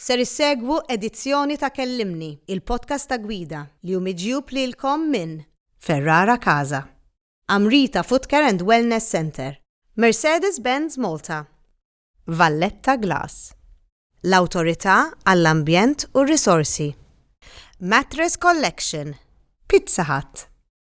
Ser issegwu edizzjoni ta' Kellimni, il-podcast ta' Gwida, li hu miġjub lilkom minn Ferrara Casa, Amrita Footcare and Wellness Centre, Mercedes-Benz Malta, Valletta Glass, l-Awtorità għall-Ambjent u r-Risorsi, Mattress Collection, Pizza Hut,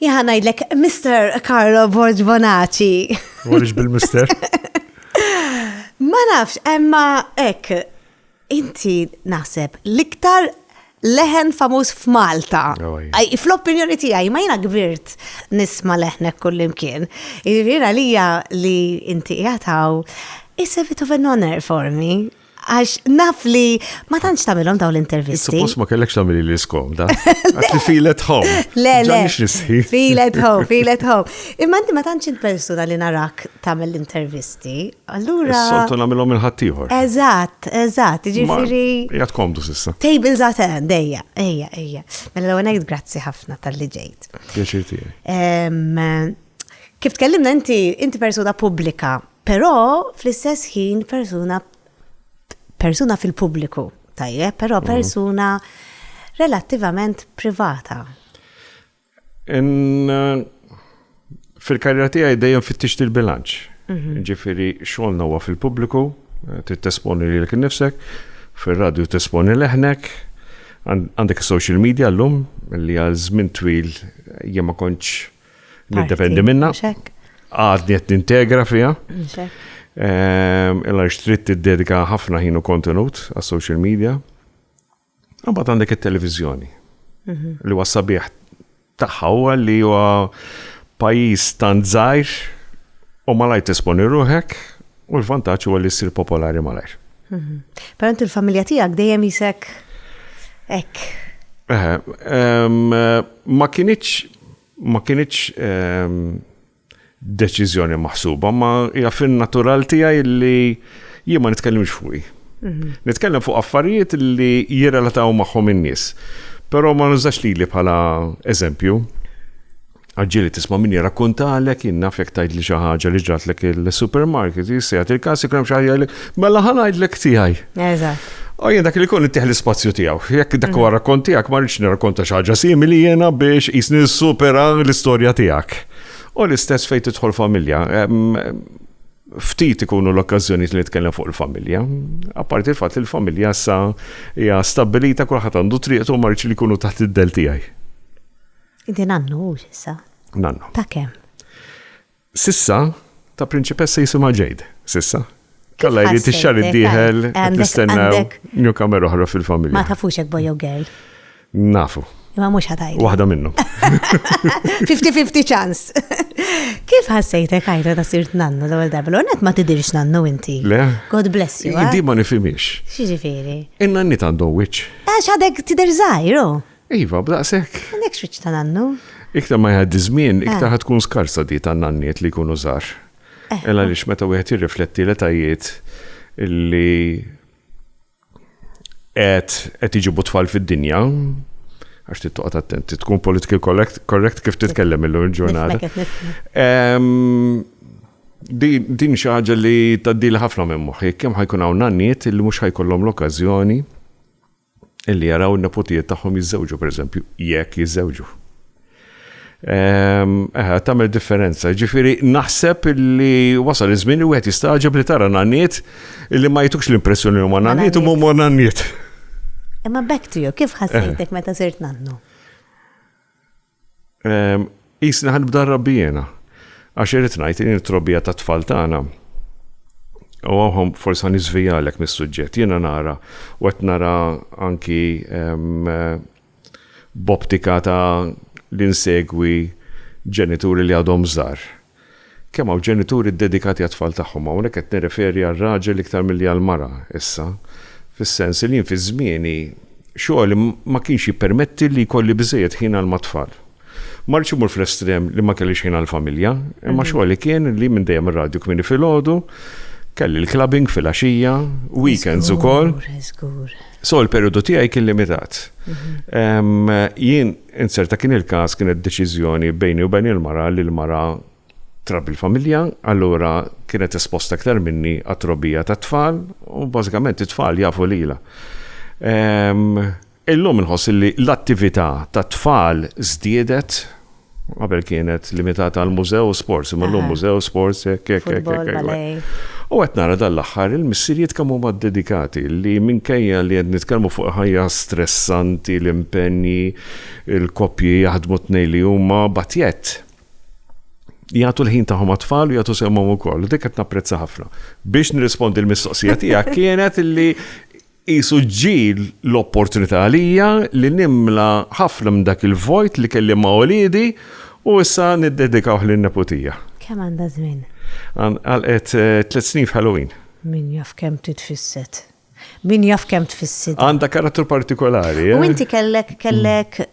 Jaha ngħidlek Mr. Carlo Borg Bonaci. Għaliex bil-Mister? Ma nafx, emma ek, inti naħseb l-iktar leħen famuż f'Malta. Oh, fl-opinjoni tiegħi ma jiena kbirt nisma' leħnek kullimkien. Jiena lija li inti jataw is a bit of an honor for me. Għax naf li ma tantx tagħmilhom dawn l-intervisti. Suppost ma kellekx tagħmel li skomda. Għax li feel at home. Le, le. Feel at home, feel at home. Imma inti ma tantx int persuna li narak tagħmel l-intervisti. Allura. Soltu nagħmilhom il-ħaddieħor. Eżatt, eżatt, ġifieri. Jgħat komdu sissa. Tables at end, ejja, ejja, ejja. Mela l-għonek grazzi ħafna tal-li ġejt. Pjaċir tiegħi. Kif tkellimna inti, inti persuna pubblika, Però fl-istess ħin persuna persuna fil-pubbliku, tajjeb, però mhm. persuna relattivament privata. Uh, fil-karriera tiegħi dejjem fittixt il-bilanċ. Mhm. Ġifieri xogħolna huwa fil-pubbliku, eh, tittesponi lilek innifsek, fir-radju tesponi leħnek, għandek social media llum li għal żmien twil jien ma kontx Nindependi minna. Għadni qed nintegra fiha. Ehm, illa xtrit tiddedika ħafna ħinu kontenut għas social media. Għabat għandek il-televizjoni. Mhm. Li huwa sabiħ tagħha huwa li huwa pajjiż tant żgħir u malaj tisponi ruħek u l-vantaġġ huwa li ssir popolari malajr. Mhm. Però inti l-familja tiegħek dejjem isek hekk. Eh, ehm, ma kienieċ ma kinitx deċiżjoni maħsuba, ma hija fin-natural tiegħi li jien ma nitkellimx fuqi. Mhm. Nitkellem fuq affarijiet li jirrelataw magħhom in-nies. Però ma nużax lili bħala eżempju. Għagġili tisma' min jirrakkontalek, jien naf jekk tgħidli xi ħaġa li ġratlek il-supermarket, jissejħat il-każ ikun hemm xi ħaġa Mela ħa ngħidlek tiegħi. Eżatt. U jien dak li kun ittieħ l-ispazju tiegħu. Jekk dak huwa mm. rakkont tiegħek ma rridx nirrakkonta xi ħaġa simili jiena biex jisni supera l-istorja tiegħek. U l-istess fejn tidħol familja. Ftit ikunu l-okkażjonijiet li nitkellem fuq il-familja. Apparti l-fatt li l-familja sa hija stabbilita kulħadd għandu triqtu ma rridx li jkunu taħt id-del tiegħi. Inti nannu issa. Nannu. Ta' kemm? S'issa, ta' prinċipessa jisimha Jade, s'issa. Kalla jrid ix-xahar id-dieħel qed nistennew newcomer oħra fil-familja. Ma tafux jekk boy jew girl? Nafu. Imma mhux ħa tgħidli. Waħda minnhom. 50-50 ċans. Kif ħassejtek għajra ta' sirt nannu l-ewwel darba? L-ewwel nett ma tidhirx nannu inti. Le. God bless you. Di ma nifhimiex. X'jiġifieri? In-nanniet għandhom wiċċ. Għax għadek tidher żgħir, oh. Iva, b'daqshekk. Għandek xwiċċ ta' nannu. Iktar ma jgħaddi żmien, eh. iktar ħad tkun skarsa di ta' nanniet li jkunu żgħar. Eh. Ela lix meta wieħed jirrifletti l-etajiet li qed qed iġibu tfal fid-dinja, għax tittoqgħod attenti, tkun politically correct kif titkellem illum il-ġurnata. Din xi ħaġa li tgħaddil ħafna minn moħħi, kemm ħajkun hawn nanniet li mhux ħajkollhom l-okkażjoni illi jaraw in-neputijiet tagħhom jiżżewġu, pereżempju, jekk jiżżewġu. Ehm, eħe, tagħmel differenza. Ġifieri naħseb illi wasal iż-żmien li wieħed jistgħaġeb li tara nanniet illi ma jitux l-impressjoni huma nanniet u huma nanniet. Imma back to you, kif ħassejtek meta sirt nannu? Qisni ħa nibda nrabbi jiena. Għax irrid ngħid li din it-trobbija tat-tfal tagħna u hawn forsi ħa niżvijalek mis-suġġett. Jiena nara u qed nara anki b'optika ta' li nsegwi ġenituri li għadhom żgħar. Kemm hawn ġenituri ddedikati għat-tfal tagħhom? Hawnhekk qed nirreferi għar-raġel iktar milli għall-mara issa, fis-sens li jien fi żmieni xogħli ma kienx jippermetti li jkolli biżżejjed ħin għal mat-tfal. Ma rridx immur fl-estrem li ma kellix ħin għall-familja, imma xogħli kien li minn dejjem ir-radju kmieni filgħodu, kelli l-clubbing fil-għaxija, weekends ukoll. So l-perjodu tiegħi kien limitat. Jien Inzerta kien il-każ kienet deċiżjoni bejni u bejn il-mara li l-mara trabbi l-familja, allura kienet esposta iktar minni għat-trobbija tat-tfal u bażikament it-tfal jafu lilha. Illum inħoss li l-attività tat-tfal żdiedet, qabel kienet limitata għall-mużew u sports, imma llum mużew, sports, hekk hekk hekk. U qed nara dan l-aħħar il-missirijiet kemm huma ddedikati li minkejja li qed nitkellmu fuq ħajja stressanti, l-impenji, il-koppji jaħdmu t-tnejn li huma batjet. Jagħtu l-ħin tagħhom għat-tfal u jagħtu semmhom ukoll. Dik qed napprezza ħafna. Biex nirrispondi l-mistoqsija tiegħek kienet li Qisu ġġi l-opportunità għalija li nimla ħafna minn dak il-vojt li kelli ma' uliedi u issa niddedikawh lin-neputija. Kemm għandha żmien? Għalqet tliet snin f'Halloween. Min jaf kemm titfisset. Min jaf kemm tfissitha. Għandha karattru partikolari, eh? U inti kellek, kellek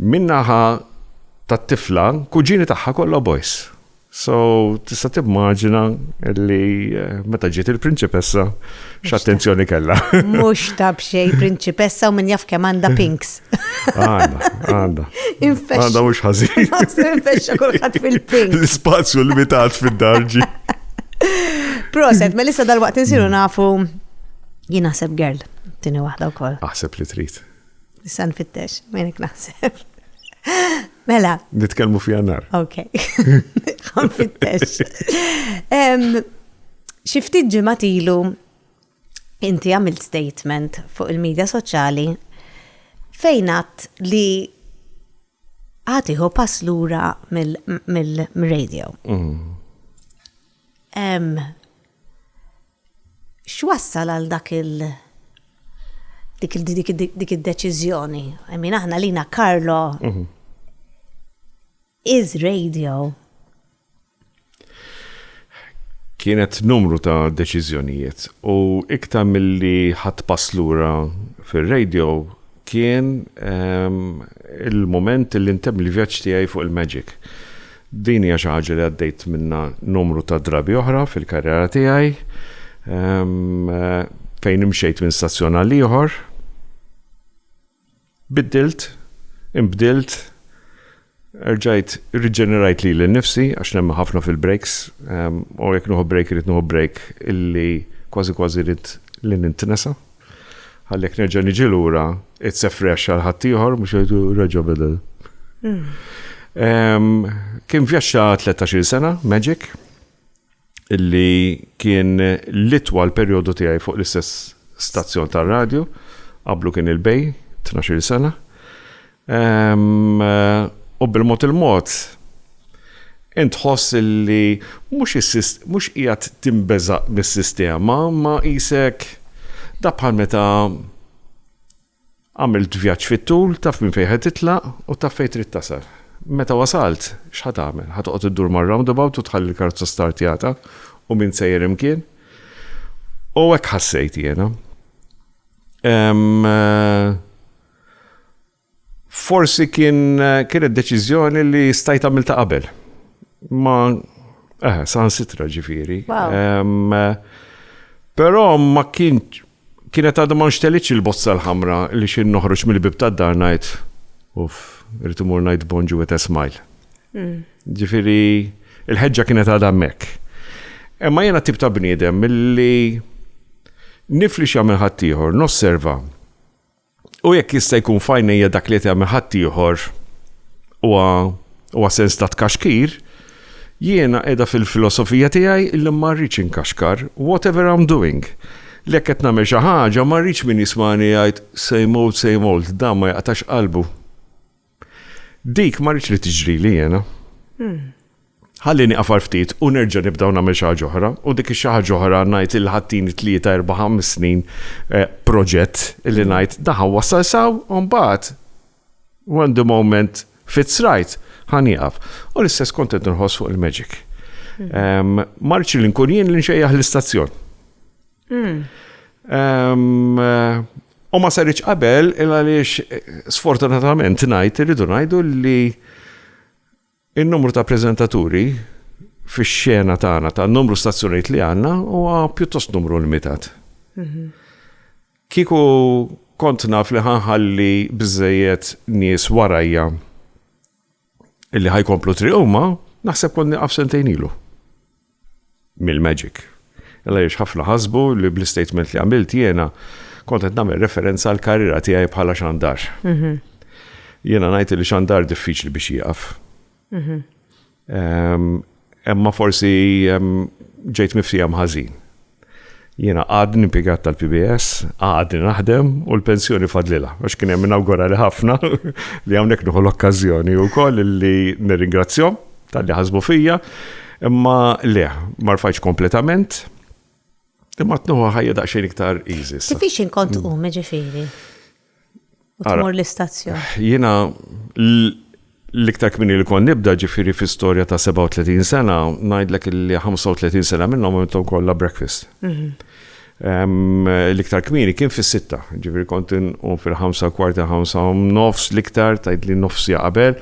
Min-naħa tat-tifla, kuġini tagħha kollha boys. So, tista' timmaġina li meta ġiet il-prinċipessa x'attenzjoni kellha. Mhux ta' b'xejn prinċipessa u min jaf kemm għandha pinks. Għandha, għandha. Għandha mhux ħażin. Infexxa kulħadd fil-pink. L-ispazju limitat fid-darġi. Proset, ma lissa dal-waqt insiru nafu jien naħseb girl, tini waħda wkoll. Aħseb li trid. Issa nfittex, menek naħseb. Mela. Nitkellmu fi jannar. Ok. Nfittex. Xifti ġimat ilu inti għamilt statement fuq il-medja soċjali fejnat li għatiħu pass lura mill-radio. Mm. X'wassal għal dak il dik il dik id dik id-deċiżjoni? I mean aħna lina Carlo is radio. Kienet numru ta' deċiżjonijiet u iktar milli ħadd pass lura fir-radio kien ehm, il-moment li ntem il-vjaġġ tiegħi fuq il-Magic. Din hija xi ħaġa li għaddejt minnha numru ta' drabi oħra fil-karriera tiegħi fejn imxejt minn stazzjon għal ieħor. Biddilt, imbdilt, erġajt riġenerajt li l-nifsi għax nemmen ħafna fil-breaks u jekk nuħu break irid nuħu break illi kważi kważi rrit li nintnesa. Għalhekk nerġa' niġi lura, it's a fresh għal ħaddieħor mhux jgħidu reġa' beda. Kien vjaġġa 13 sena, Magic, illi kien litwa l perjodu tiegħi fuq l-istess stazzjon tar-radju, qablu kien il-bej, 12 sena. U bil-mod il-mod, int tħoss li mhux qiegħed tinbeża' mis-sistema, imma qisek, daqs bħal meta għamilt vjaġġ fit-tul, taf minn fejn ħa titlaq u taf fejn trid tasal. Meta wasalt, x'ħa tagħmel? Ħa toqgħod iddur mar-roundabout u tħalli l-karozza startjata u m'int sejjer imkien? U hekk ħassejt jiena. Forsi kien kienet deċiżjoni li stajt għamilta qabel. Ma eh, saħansitra ġifieri. Però ma kien kienet għadha ma nxtelitx il-bozza l-ħamra li xi noħroġ mill-bib tad-dar ngħid uff, irid imur ngħid bonġu with a smile. Hmm. Ġifieri il-ħeġġa kienet għadha hemmhekk. Imma jiena tip ta' bniedem milli nifli x'jagħmel ħaddieħor, nosserva U jekk jista' jkun f'għajnejja dak li qed jagħmel ħaddieħor huwa huwa sens ta' tkaxkir, jiena qiegħda fil-filosofija tiegħi li ma rridx inkaxkar, whatever I'm doing. Li jekk qed nagħmel xi ħaġa ma rridx min jismagħni jgħid, same old, same old, dan ma jaqtax qalbu. Dik ma rridx li tiġrili jiena. Ħalli nieqaf għal ftit u nerġa' nibda u nagħmel xi ħaġa oħra, u dik ix-xi ħaġa oħra ngħid illi ħadtini tlieta, erba', ħames snin eh, proġett illi ngħid da ħa wassal saw u mbagħad when the moment fits right ħa nieqaf. U l-istess kont qed nħoss fuq il-Magic. Marċi li nkun jien li nxejjaħ l-istazzjon. Hmm. U ma sarriċ qabel, il għaliex sfortunatament najt, irridu najdu li il-numru ta' prezentaturi fi xena tagħna ta' numru stazzjoniet li għanna u pjuttost numru limitat. Mhm. Kiku kont naf li ħanħalli bizzejiet nies warajja illi ħajkomplu triq huma, naħseb kont nieqaf sentejn ilu. Mill-magic. Illa jiex ħafna ħasbu li bl-istatement li għamilt jiena kont qed nagħmel referenza għal karriera tiegħi bħala xandar. Mhm. Jiena ngħid li xandar diffiċli biex jieqaf. Mhm. Ehm, Imma forsi ġejt miftijem ħażin. Jiena għadni impjegat tal-PBS, għadni naħdem u l-pensjoni fadlila. Għax kien hemm inawgura li ħafna li hawnhekk nieħu l-okkażjoni wkoll li nirringrazzjom tal-li ħasbu fija, imma le, ma rfajx kompletament, imma tnuħu ħajja daqsxejn iktar easy. Kif ix inkont u meġifieri? U tmur l-istazzjon. Jiena l-iktar kmini li kon nibda ġifiri fi storja ta' 37 sena, najdlek li 35 sena minnhom għamiltom kollha breakfast. Mhm. L-iktar kmini kien fis-sitta, ġifiri kont un fil-ħamsa kwarta ħamsa nofs l-iktar tajdli nofsi qabel,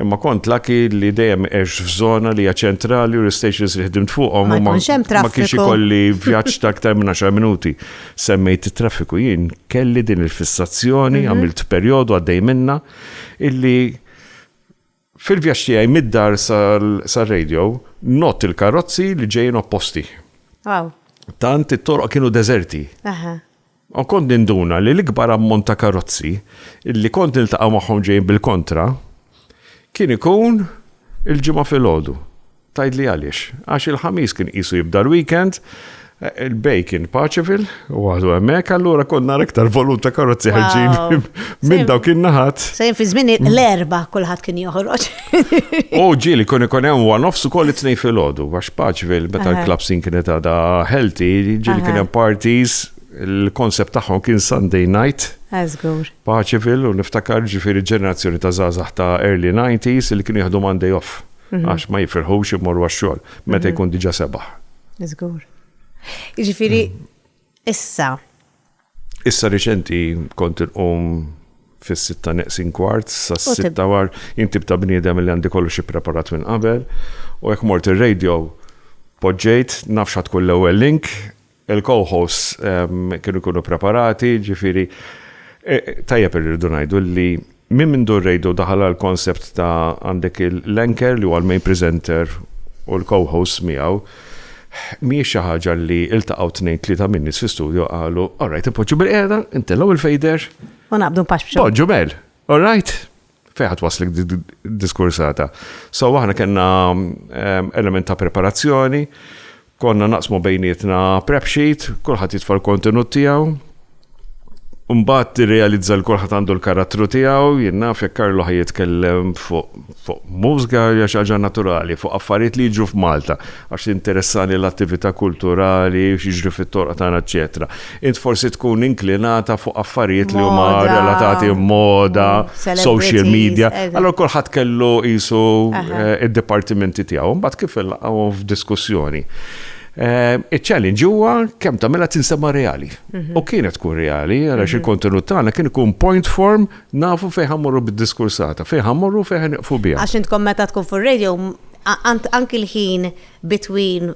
Imma kont lucky li dejjem għext f'żona li hija ċentrali u l-istations li ħdimt fuqhom u ma kienx ikolli vjaġġ ta' aktar minn 10 minuti. Semmejt it-traffiku, jien kelli din il-fissazzjoni, għamilt perjodu għaddej minnha, illi fil-vjaġġ tiegħi mid-dar sar-radio nott il-karozzi li ġejjin opposti. Tant it-toroq kienu deżerti. U kont ninduna li l-ikbar ammont ta' karozzi li kont niltaqa' magħhom ġejjin bil-kontra kien ikun il-Ġimgħa filgħodu. Tgħidli għaliex? Għax il-Ħamis kien qisu jibda l-weekend, il-bejgħ kien paċifil, waħdu hemmhekk, allura kont nara iktar volum ta' karozzi ħarġin minn dawk in-naħat. Sejn fi żmien l-Erbgħa kulħadd kien joħroġ. U ġil, kun ikun hemm one offs ukoll it-tnej fil-ħodu, għax Paċville, meta l-klab sin kienet għada healthy, ġil kien hemm parties, il-konsept tagħhom kien Sunday night. Eżgur. Paċville, u niftakar ġifiri ġenerazzjoni ta' zazax ta' early 90s li kienu jieħdu Monday off, mhm. għax ma jifirħux imorru għax-xogħol, meta mhm. jkun diġa sebaħ. Eżgur. Ġifiri, issa, Issa riċenti kont inqum fis-sitta neqsin kwart, sa sitta war, jintib ta' bniedem li għandi kollu xi preparat minn qabel, u jekk mort ir-radio, poġġejt, nafx ħadd kull l-ewwel link, il-co-hosts ehm, kienu jkunu preparati, ġifieri, eh, tajjeb irridu ngħidu li Minn mindu r-radio daħal għall-concept ta' għandek l-anchor li huwa l-main presenter u l-co-hosts miegħu, mhijiex xi ħaġa li iltaqgħu tnejn tlieta min-nies fi studio qalu, all right, inpoġġu bil-qiegħda, intellgħu il-fejder. U naqbdu npaxxu. Poġġu mel, all right? Fejħat waslik diskursata. So aħna kellna ehm, element ta' preparazzjoni Konna naqsmu bejnietna prep sheet, kulħadd jitfa' l-kontenut tiegħu. Mbagħad tirrealizza li kulħadd għandu l-karattru tiegħu, jien naf jekk Karlo ħaj jitkellem fuq mużga hija xi ħaġa naturali, fuq affarijiet li jiġru f'Malta, għax tinteressani l-attività kulturali, x'jiġri fit-toroq tagħna, eċċetera. Int forsi tkun inklinata fuq affarijiet li huma relatati moda, social media. Allora kulħadd kellu qisu eh, id-dipartimenti tiegħu, mbagħad kif ilqgħu f'diskussjoni. Eh, iċ-challenge huwa kemm tagħmilha tinsema reali. Mhm. U kienet tkun reali għaliex mhm. il-kontenut tagħna kien ikun point form nafu fejn ħammorru bid-diskursata, fejn ħammorru fejn ħaniqfu biha. Għax intkom meta tkun fuq radio anki l-ħin between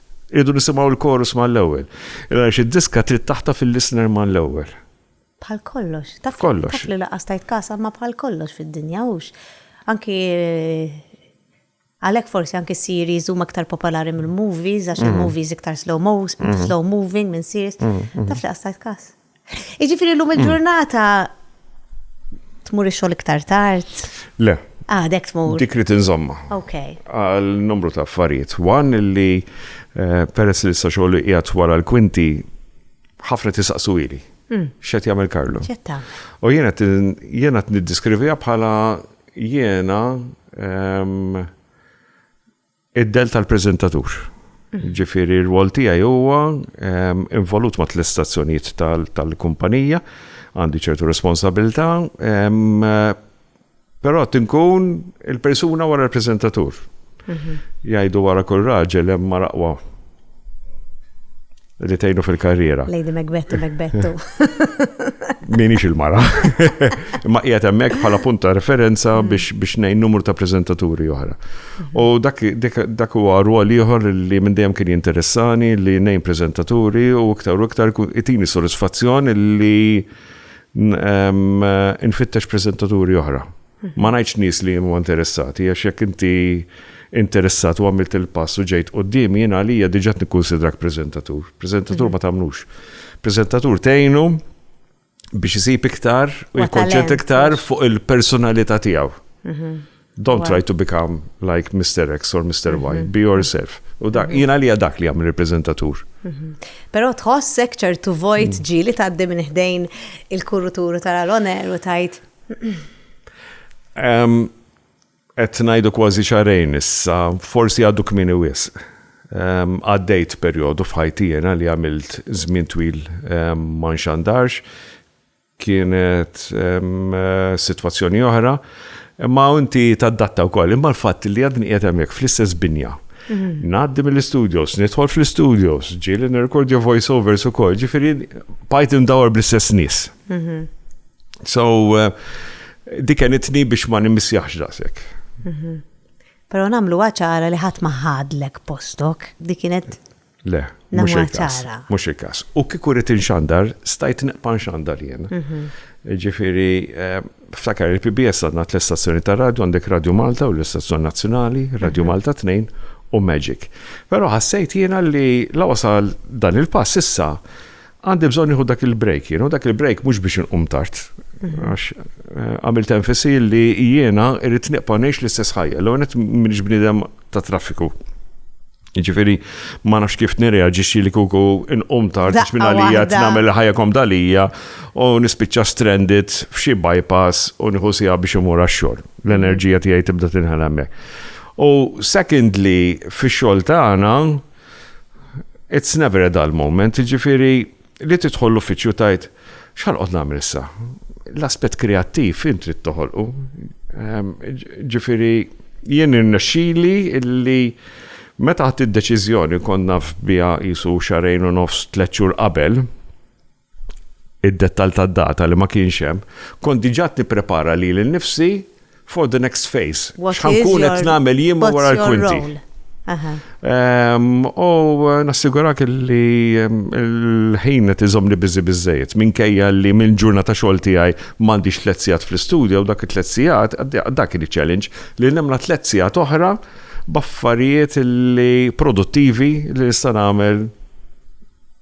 Irridu nisimgħu l-chorus mal-ewwel. Għaliex id-diska trid taħtaf il-listener mal-ewwel. Bħal kollox. Taf li laqas tajt kasa ma bħal kollox fid-dinja hux. Anki għalhekk forsi anki series huma aktar popolari mill-movies għax il-movies iktar slow slow moving minn series. Taf li laqas tajt kas. Jiġifieri llum il-ġurnata tmur ix-xogħol iktar tard? Le. Ah, dek tmur. Dik rid inżomma. Ok. Għal numru ta' affarijiet. Wan li eh, peress li sa xogħol qiegħed wara l-kwinti ħafna tisaqsu ili. Hmm. X'qed jagħmel Karlu? Ċetta. U jiena jiena niddiskrivija bħala jiena ehm, Id-del tal-preżentatur. Ġifieri r-rwol tiegħi huwa ehm, involut ma' l-istazzjonijiet tal-kumpanija, għandi ċertu responsabilità, ehm, però tinkun il-persuna wara l-preżentatur. Mhm. Jgħidu wara kull raġel hemm maraqwa Ritejnu fil-karriera. Lady Macbettu, Macbettu. Minix il-mara. Ma qiegħed hemmhekk bħala punta referenza mm. biex biex ngħin numru ta' preżentaturi oħra. Mm-hmm. U dak dak huwa rwol ieħor li minn dejjem kien jinteressani li ngħin preżentaturi u iktar u iktar itini sodisfazzjon li nfittex preżentaturi oħra. Ma ngħidx nies li huma interessati għax jekk inti interessat u għamilt il-pass u ġejt quddiemi jien għalija diġà nikkunsidrak preżentatur. Preżentatur ma tagħmlux. Preżentatur tgħinu biex isib iktar u jikkonċent iktar fuq il-personalità tiegħu. Mhm. Don't try to become like Mr. X or Mr. Y, mhm. be yourself. U da, mhm. jina li dak li għamil reprezentatur. Mhm. Pero tħossek ċertu vojt mm. ġili taddi minn ħdejn il-kuruturu tal-oner u tajt Qed ngħidu kważi xarejn issa, forsi għadu kmini wisq. Għaddejt perjodu f'ħajti jena li għamilt żmien twil ma nxandarx, kienet sitwazzjoni oħra, imma inti taddatta wkoll, imma l-fatt li għadni qiegħed hemmhekk fl-istess binja. Mhm. Ngħaddi mill-istudios, nidħol fl-istudios, ġieli nirrekordja voiceovers ukoll, ġifieri bajt indawar bl-istess nies. Mhm. So, eh, dikenitni biex ma nimmisjax daqsek. Mhm. Pero namlu għacħara li ħat maħadlek postok, di kienet. Le, mux il-kas. Mux il-kas. U kiku rrit inxandar, stajt neqpan xandar jien. Mhm. Ġifiri, eh, ftakar il-PBS għadna l-istazzjoni ta' radio, għandek Radio Malta u l-istazzjoni nazjonali, Radio mhm. Malta 2 u Magic. Pero ħassejt jiena li la wasal dan il-pass issa Għandi bżonn nieħu dak il-break jien, u dak il-break mhux biex inqum tard. Mhm. Għax eh, għamilt enfasi li jiena irrid neqpa' ngħix l-istess ħajja, l għonet minix bnidem ta' traffiku. Ġifiri, ma nafx kif nirreagġixxi li kuku inqum tard biex minn għalija tnamel ħajja kom dalija u nispiċċa stranded f'xi bypass u nieħu sija biex imur għax-xogħol. L-enerġija tiegħi tibda tinħel hemmhekk. U secondly, fix-xogħol tagħna, It's never a dull moment, jiġifieri li tidħol l-uffiċċju tgħid x'ħanqgħod nagħmel issa? L-aspett kreattiv int trid toħolqu. Ehm, jiġifieri jien irnexxili li meta ħadd id-deċiżjoni kont naf biha jisu xarejn u nofs tliet xhur qabel, id-dettall tad-data li ma kienx hemm, kont diġà qed nipprepara lili nnifsi for the next phase. X'ħa nkun qed nagħmel jien wara l-kwinti. U nassigurak li l-ħin qed iżommni biżi biżżejjed minkejja li mill-ġurnata xogħol tiegħi m'għandix tliet sigħat fl-istudjo u dak it-tliet sigħat, dak kien iċ-challenge, li nimla tliet sigħat oħra b'affarijiet li produttivi li nista' nagħmel.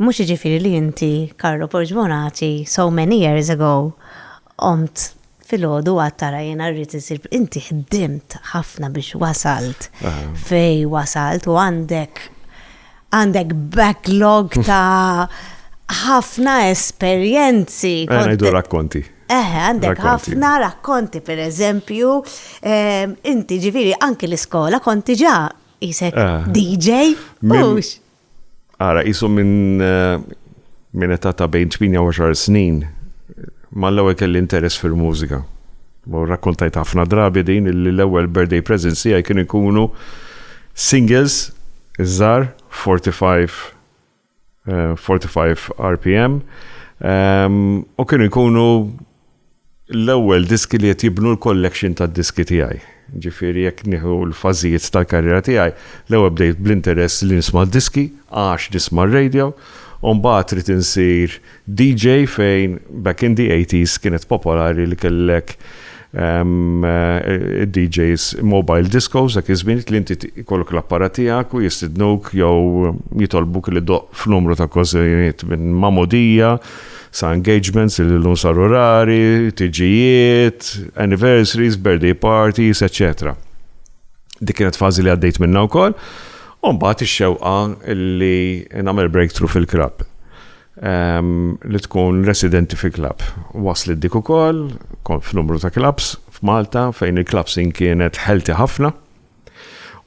Mhux jiġifieri li inti, Carlo Porgbonaci, so many years ago, qomt filgħodu u għedt ara jiena rrid insir. Inti ħdimt ħafna biex wasalt fejn wasalt u għandek għandek backlog ta' ħafna esperjenzi. Għana eh, jdu rakkonti. Eħe, eh, għandek ħafna rakkonti, per eżempju, ehm, inti ġifiri anki l-iskola konti ġa jisek eh. DJ. Mux. Ara, jisu minn min età ta' bejn 18 snin, mal-ewwel kelli interess fil-mużika. U rakkontajt ħafna drabi din li l-ewwel birthday presents tiegħi kien ikunu singles iż-żar 45 45 RPM u kienu jkunu l-ewwel diski li qed jibnu l-collection tad-diski tiegħi. Ġifieri jekk nieħu l-fażijiet tal-karriera tiegħi, l-ewwel bdejt bl-interess li nisma' d-diski għax nisma' r-radio, u mbagħad ridt insir DJ fejn back in the eighties kienet popolari li kellek id-DJs mobile discos dak iż-żmien li inti jkollok l-apparat tiegħek u jistidnuk jew jitolbuk li ddoqq f'numru ta' okkażjonijiet minn magħmudija, Sa engagements li llum saru rari, tiġijiet, anniversaries, birthday parties, eċċetera. Dik kienet fażi li għaddejt minnha wkoll. U mbagħad ix-xewqa li nagħmel breakthrough fil-klabb. Ehm, li tkun residenti fi klabb. Waslet dik ukoll, kont f'numru ta' klabbs f'Malta fejn il-klabbs kienet ħelti ħafna.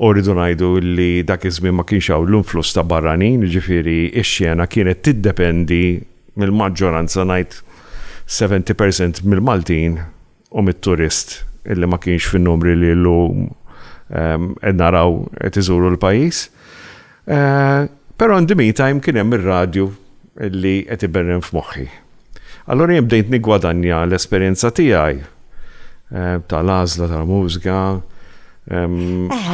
U rridu ngħidu li dak iż-żmien ma kienx hawn l-influss ta' barranin, jiġifieri x-xena kienet tiddependi mill-maġġoranza ngħid seventy percent mill-Maltin u mit-turist illi ma kienx fin-numri li llum qed naraw qed iżuru l-pajjiż. Però in the meantime kien hemm ir-radju li qed iberren f'moħħi. Allura jien bdejt niggwadanja l-esperjenza tiegħi tal-għażla tal-mużika,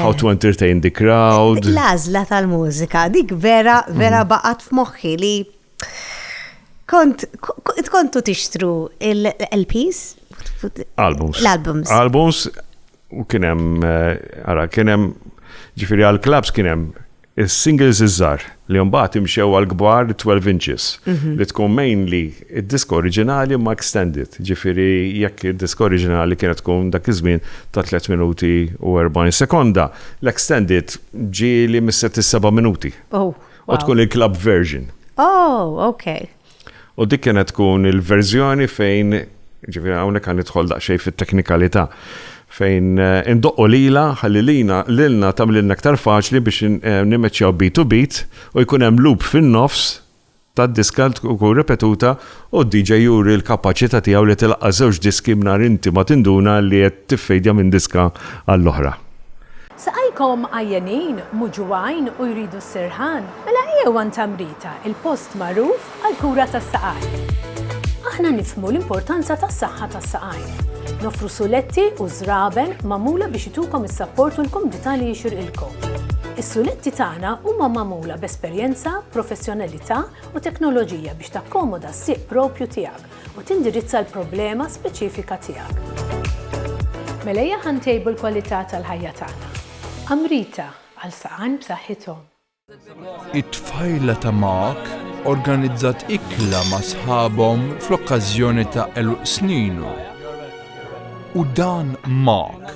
how to entertain the crowd. L-għażla tal-mużika, dik vera, vera mm. baqgħet f'moħħi li kont kontu tixtru l-LPs? Albums. L-albums. Albums U kien hemm, ara, kien hemm, ġifieri għall-klabbs kien hemm is-singles iż-żgħar li mbagħad imxew għall-kbar 12 inches mhm. li tkun mainly id-disk oriġinali ma extended. Ġifieri jekk id-disk oriġinali kienet tkun dak iż-żmien ta' 3 minuti u 40 sekonda, l-extended ġieli mis-set is-7 minuti. Oh, u tkun il-club version. Oh, okay. U dik kienet tkun il-verżjoni fejn, ġifieri hawnhekk għan nidħol daqsxejn fit-teknikalità, fejn eh, indoqqu lila ħalli lina lilna tagħmlilna aktar faċli biex eh, nimmeċċjaw beat to beat u jkun hemm loop fin-nofs tad-diska tkun ripetuta u d-DJ juri l-kapaċità tiegħu li tilaqqa' żewġ diski mingħajr inti ma tinduna li qed tiffejdja minn diska għall-oħra. Saqajkom għajjenin, muġugħin u jridu s-sirħan? Mela ejjew għand Amrita, il-post magħruf għall-kura tas-saqajn. Aħna nifhmu l-importanza tas-saħħa tas-saqajn. Noffru suletti u żraben magħmula biex itukom is-sapport u l-kumdità li jixirqilkom. Is-suletti tagħna huma magħmula b'esperjenza, professjonalità u teknoloġija biex takkomoda s-sieq proprju tiegħek. u tindirizza l-problema speċifika tiegħek. Mela ejja ħa ntejbu l-kwalità tal-ħajja tagħna. Amrita, għal saqajn b'saħħithom. It-tfajla ta' Mark organizzat ikla ma' sħabhom fl-okkażjoni ta' għeluq sninu. U dan Mark.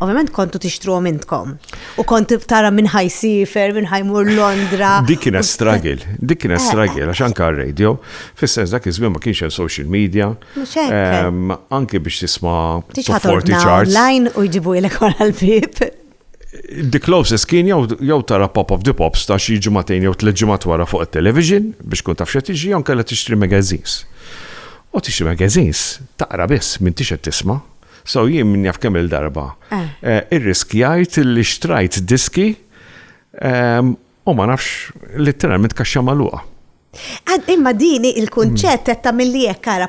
Ovvjament kontu tixtruhom intkom. U kont tara minn ħajsifer, minn ħajmur Londra. Dik kienet stragil, dik kienet eh. stragil, għax anka radio, fis-sens dak iż ma kienx hemm social media. Anke biex tisma' forti charts. Online u jġibu ilek wara l-bib. The closest kien jew tara Pop of the Pops ta' xi ġimagħtejn jew tliet ġimgħat wara fuq it-television biex tkun taf x'qed jiġri jew kellha tixtri magazines. U tixtri magazines taqra biss m'intix qed tisma'. So jien min jaf kemm-il darba eh. Eh, irriskjajt li xtrajt diski ehm, U ma nafx, literalment kaxxa magħluqa. Għad imma dini il-kunċett qed tagħmilli hekk ara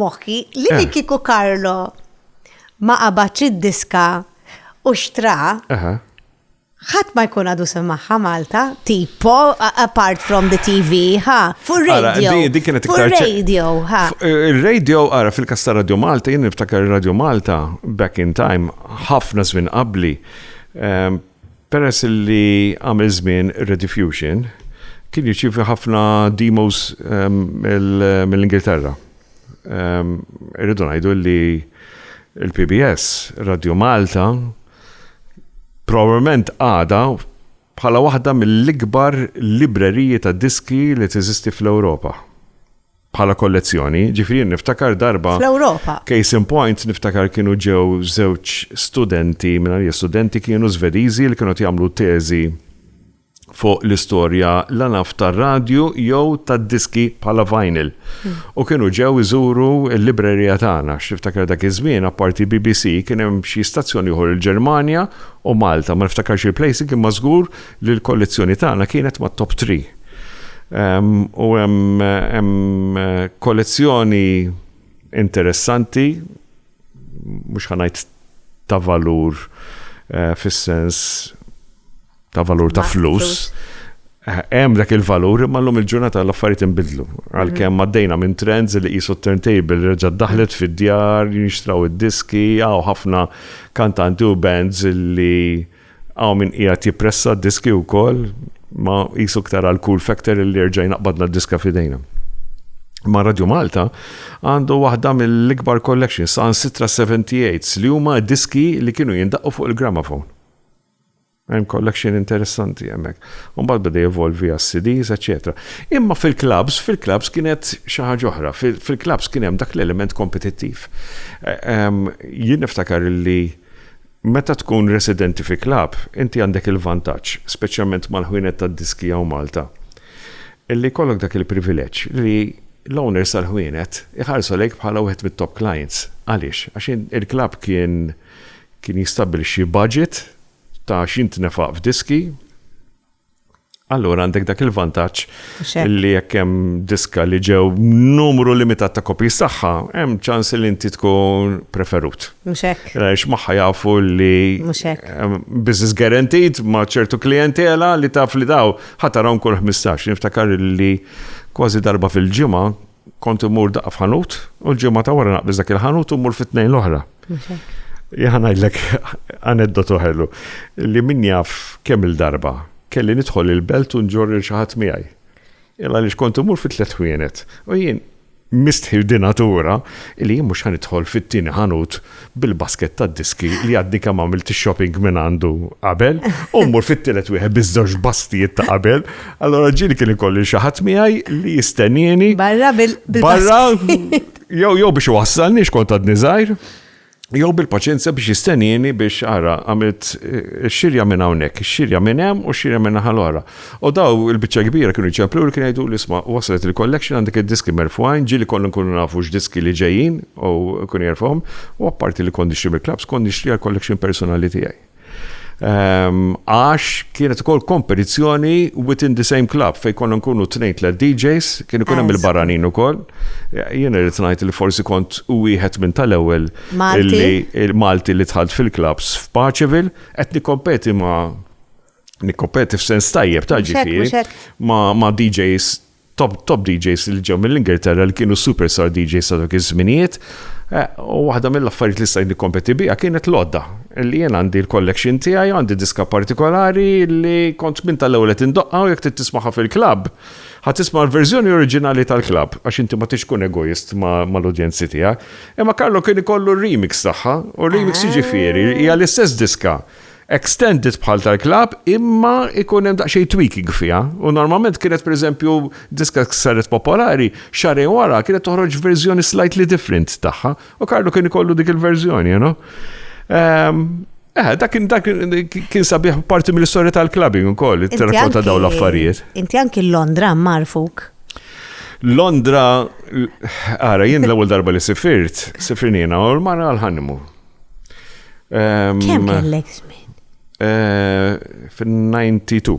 moħħi li eh. kiku Karlo ma qabadx id-diska u xtra. ħadd ma jkun għadu semmaħħa Malta, tipo, apart from the TV, ha, fu radio. Di kienet iktar radio, ha. Eh, il-radio, ara, fil-kasta Radio Malta, jien niftakar Radio Malta, back in time, ħafna żmien qabli, ehm, Peress li għamel żmien ir-Rediffusion kien jirċievi ħafna demos mill-Ingilterra. Irridu ngħidu li l-PBS, Radio Malta, probabbilment għadha bħala waħda mill-ikbar libreriji tad-diski li teżisti fl-Ewropa. bħala kollezzjoni, ġifieri jien niftakar darba. Fl-Ewropa. Case in point niftakar kienu ġew żewġ studenti, mingħajr studenti kienu Svediżi li kienu qed jagħmlu teżi fuq l-istorja la naf tar-radju jew tad-diski bħala vinyl. Hmm. U kienu ġew iżuru l-librerija tagħna x'niftakar dak iż-żmien apparti BBC kien hemm xi stazzjoni ieħor il-Ġermanja u Malta ma niftakarx il-place kien mażgur li l-kollezzjoni tagħna kienet ma' top 3. U hemm kollezzjoni interessanti, mhux ħanajt ta' valur eh, fis-sens ta' valur ta' flus. Eh, hemm dak il-valur imma llum il-ġurnata l-affarijiet inbidlu. Għalkemm mhm. għaddejna minn trends li qisu turntable reġa' daħlet fid-djar, jinxtraw id-diski, għaw ħafna kantanti u bands li Hawn min qiegħed jippressa d-diski wkoll, ma qisu iktar għal cool factor li jerġa' jnaqqbadna d-diska f'idejna. Imma Radio Malta għandu waħda mill-ikbar collections, saħansitra 78s, li huma diski li kienu jindaqqu fuq il-gramophone. Hemm collection interessanti hemmhekk. U mbagħad beda jevolvi għas-CDs, eċċetera. Imma fil-clubs, fil-clubs kienet xi ħaġa oħra, fil-clubs kien hemm dak l-element kompetittiv. Jien niftakar li Meta tkun residenti fi club, inti għandek il-vantaġġ, speċjalment mal-ħwienet tad-diski hawn Malta, li jkollok dak il-privileġġ li l-owners tal-ħwienet iħarsu lejk bħala wieħed mit-top clients. Għaliex? Għax il-club kien kien jistabbilixxi budget ta' x'jintnefaq f'diski, Allura għandek dak il-vantaġġ li jekk hemm diska li ġew numru limitat ta' kopji tagħha, hemm ċans li inti tkun preferut. Mhux hekk. Għax magħha jafu li business guaranteed ma' ċertu klijentela li taf li daw ħatarhom kull 15. Niftakar li kważi darba fil-ġimgħa Kont immur daqqa f'ħanut u l-ġimgħa ta' wara naqbis dak il-ħanut u mmur fit-tnejn l-oħra. Jaħan ngħidlek aneddotu ħellu li min jaf kemm il-darba kelli nidħol il-belt u nġorri xi ħadd miegħi. Illa li xkont imur fit-tlet ħwienet u jien mistħi dinatura li jien mhux ħanidħol fit-tieni ħanut bil-basket tad-diski li għaddi kemm għamilt ix-shopping minn għandu qabel, u mmur fit-tielet wieħed biż-żewġ bastijiet ta' qabel, allora ġieli kien ikolli xi ħadd miegħi li jistennieni. Barra bil Barra jew jew biex wassalni xkont għadni żgħir, jew bil-paċenzja biex jistennieni biex ara għamilt eh, xirja minn hawnhekk, xirja minn hemm u xirja minn naħa l-oħra. U dawn il-biċċa kbira kienu jċempluli u kienu jgħiduli, isma' waslet il-collection għandek id-diski merfugħin, ġieli konna nkunu nafu x'diski li ġejjin u kienu jerfgħuhom, u apparti li kont nixtri mill-klabbs kont nixtri għall-collection personali tiegħi. Għax kienet ukoll kompetizzjoni within the same club fejn konna nkunu tnejn tliet DJs, kien ikun hemm il-barranin ukoll. Jien irid ngħid li forsi kont u wieħed minn tal-ewwel Malti li dħalt fil-klabbs f'Paċeville qed nikkompeti ma' Nikkopeti f'sens tajjeb ta' ġifieri ma' DJs top, top DJs li ġew mill-Ingilterra li kienu superstar DJs sa' dak iż-żminijiet. Eh, u waħda mill-affarijiet li stajni kompeti bija kienet l-odda. Li jien għandi l-collection tiegħi, għandi diska partikolari li kont minn tal-ewwel qed indoqqa u jekk trid tismaħa fil-klabb, ħa tisma' l-verżjoni oriġinali tal-klabb għax inti ma tixkun egoist mal-udjenzi tiegħek. Imma Karlo kien ikollu remix tagħha u remix jiġifieri hija l-istess diska extended bħal tal-klabb imma ikun hemm daqsxejn tweaking fiha u normalment kienet pereżempju diska saret popolari xarejn wara kienet toħroġ verżjoni slightly different tagħha u Karlu kien ikollu dik il-verżjoni, you know. Ehm, eh, dak kien dak kien sabiħ parti mill-istorja tal-clubbing ukoll, it-trattata ta' dawn l-affarijiet. Inti anki Londra marfuk. Londra, ara, jien l-ewwel darba li sifirt, sifirnina, u l-mara għal-ħannimu. Kemm kellek żmien? Eh, Fin-92.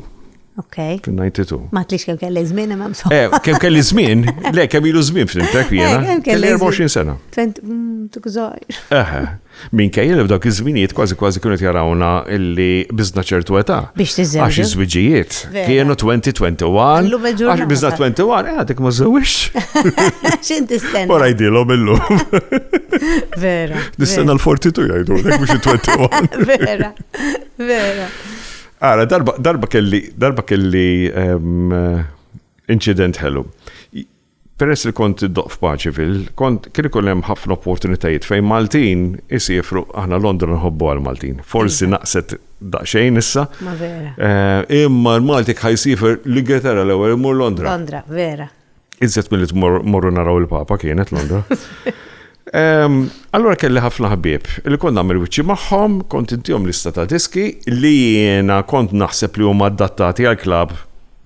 Ok. Fin-92. Ma tlix kemm kellek żmien imma msum. Eh, kemm kelli żmien? Le, kemm ilu żmien flimtek eh, jiena. Kemm kelli 24 sena. Mm, Tukżajr. Eħe. Min kejjel f'dawk iż-żminijiet kważi kważi kienu jarawna illi biżna ċertu età. Biex tiżżewġu. Għax iż-żwiġijiet. Kienu 2021. Illum il-ġurnata. Għax bizna 21, eh, għadek ma zewix. Xin tistenna? Wara jdilom illum. Vera. Nistenna l-42 jgħidu, għadek mux 21. Vera, vera. Għara, darba kelli, darba kelli ehm, incident ħelu. Peress li kont iddoqq f'paċi fil. Kont, kien ikun hemm ħafna opportunitajiet fejn Maltin isiefru, aħna Londra nħobbuha l-Maltin. Forsi naqset daqsxejn issa. Ma vera. Imma l-Malti kħa jsiefer l-Ingilterra l-ewwel imur Londra. Londra, vera. Iżjed milli tmorru naraw il-Papa kienet Londra. Allura kelli ħafna ħbieb li kont nagħmel wiċċi magħhom, kont intihom lista ta' diski li jiena kont naħseb li huma adattati għall-klabb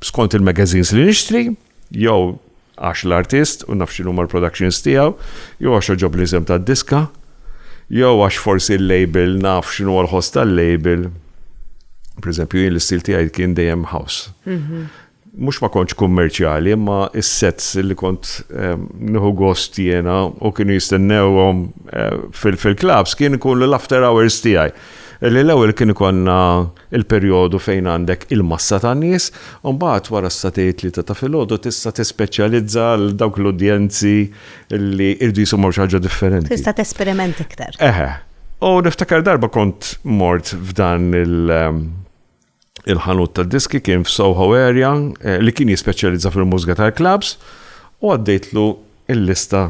skont il-magazines li nixtri. jew għax l-artist u naf x'inhuma l-productions tiegħu, jew għax oġob l-isem tad-diska, jew għax forsi l-label naf x'inhu l-ħoss tal-label. Per eżempju, jien l-istil tiegħi kien dejjem house. Mhm. Mhux ma kontx kummerċjali, imma is-sets li kont ehm, nieħu gost jiena u kienu jistennewhom eh, fil-klabs kien ikun l-after hours tiegħi. Li l-ewwel kien ikonna il-perjodu fejn għandek il-massa ta' nies, u mbagħad wara sa tgħid tlieta ta' filgħodu tista' tispeċjalizza għal dawk l-udjenzi li jridu jisimgħu xi ħaġa differenti. Tista' tesperiment iktar. Eħe. U niftakar darba kont mort f'dan il- il-ħanut ta' diski kien f'Soho area eh, li kien jispeċjalizza fil-mużika tal-klabs u għaddejtlu il-lista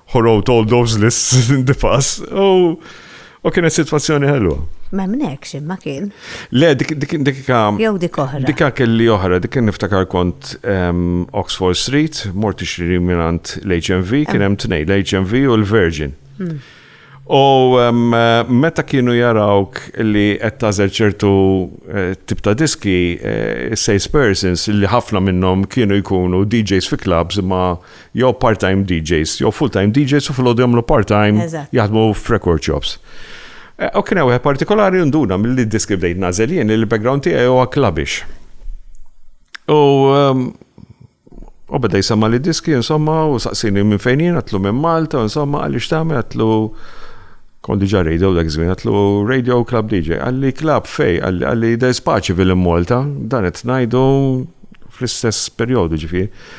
who wrote all those lists in the past, u U kienet situazzjoni ħelwa. Ma mnek xim ma kien. Le, dik dik dik Jew dik oħra. Dika kelli oħra, dik kien niftakar kont ehm, Oxford Street, morti xri minant l-HMV, kien hemm tnej, l-HMV u l-Virgin. Hmm. U ehm, meta kienu jarawk li qed tażel ċertu eh, tip ta' diski, eh, salespersons li ħafna minnhom kienu jkunu DJs fi clubs ma' jew part-time DJs, jew full-time DJs u fil-ħodu jagħmlu part-time jaħdmu f'record shops. Eh, u kien hawn partikolari nduna mill-li diski bdejt nażel jien il-background tiegħi huwa klabix. U ehm, u beda jisamma li diski, insomma, u saqsini minn fejn jien, għatlu minn Malta, insomma, għalli xtami, għatlu kondi ġa radio dak żmien, għatlu radio club DJ, għalli club fej, għalli da spaċi fil-Malta, dan qed ngħidu fl-istess perjodu ġifieri.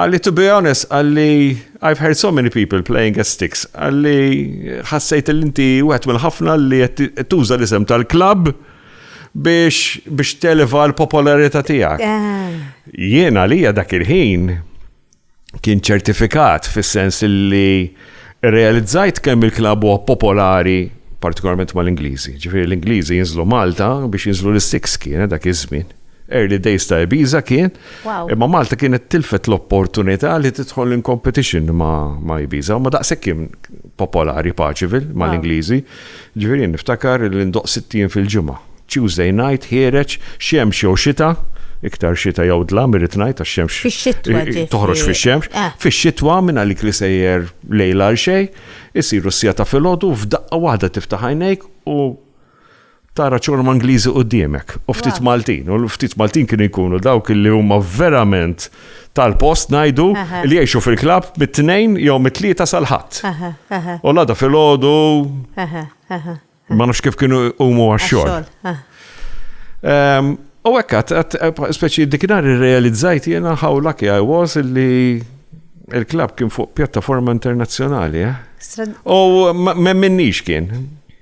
Għalli to be honest, għalli I've heard so many people playing as sticks, għalli ħassejt l-inti u għet mill-ħafna li tuża l-isem tal-klab biex biex televa l-popolarità tiegħek. Eh. Jiena għalija dak il-ħin kien ċertifikat fis-sens li Irrealizzajt kemm il-klabb huwa popolari partikolarment mal-Ingliżi. Ġifieri l-Ingliżi jinżlu Malta biex jinżlu l-Six kienet dak iż-żmien. Early days ta' Ibiza kien, imma Malta kienet tilfet l-opportunità li tidħol in competition ma' Ibiza. Huma daqshekk kien popolari Paceville mal-Ingliżi. Ġifieri niftakar li ndoqq sitt ijiem fil-ġimgħa. Tuesday night ħiereġ, xemx jew xita, iktar xita jew dlam irrid ngħid għax xemx toħroġ fix-xemx, fix-xitwa minn għalik li sejjer lejl għal xejn, isiru s-siegħa ta' filgħodu u f'daqqa waħda tiftaħ għajnejk u tara ċorma Ingliżi quddiemek u ftit Maltin u ftit Maltin kienu jkunu dawk li huma verament tal-post ngħidu li jgħixu fil-klabb mit-tnejn jew mit-tlieta sal-ħadd. U l-għada fil-ħodu ma nafx kif kienu huma għax-xogħol. Ehm, u hekk speċi dikinar irrealizzajt jiena how lucky I was li il-klabb kien fuq pjattaforma internazzjonali. Eh? U ma minnix kien.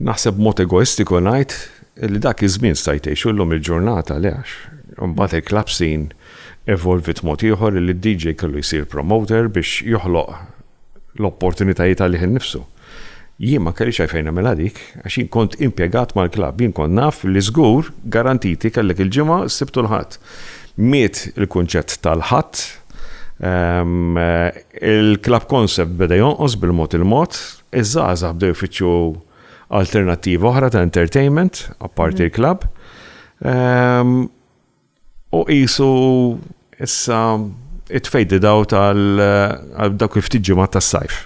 Naħseb b'mod egoistiku ngħid li dak iż-żmien stajt tgħixu llum il-ġurnata le għax imbagħad il-club scene evolviet mod ieħor illi d-DJ kellu jsir promoter biex joħloq l-opportunitajiet għalih innifsu. Jien ma kellix għalfejn nagħmilha dik għax jien kont impjegat mal-club, jien kont naf li żgur garantiti kellek il-Ġimgħa, s-Sibt u l-Ħadd. Miet il-kunċett tal-Ħadd, il-club concept beda jonqos bil-mod il-mod, Iż-żgħażagħ bdew ifittxu alternattivi oħra ta' entertainment apparti l-klabb. Ehm, u qisu issa it-tfejdi daw tal-dak il-ftit ġimgħa tas-sajf.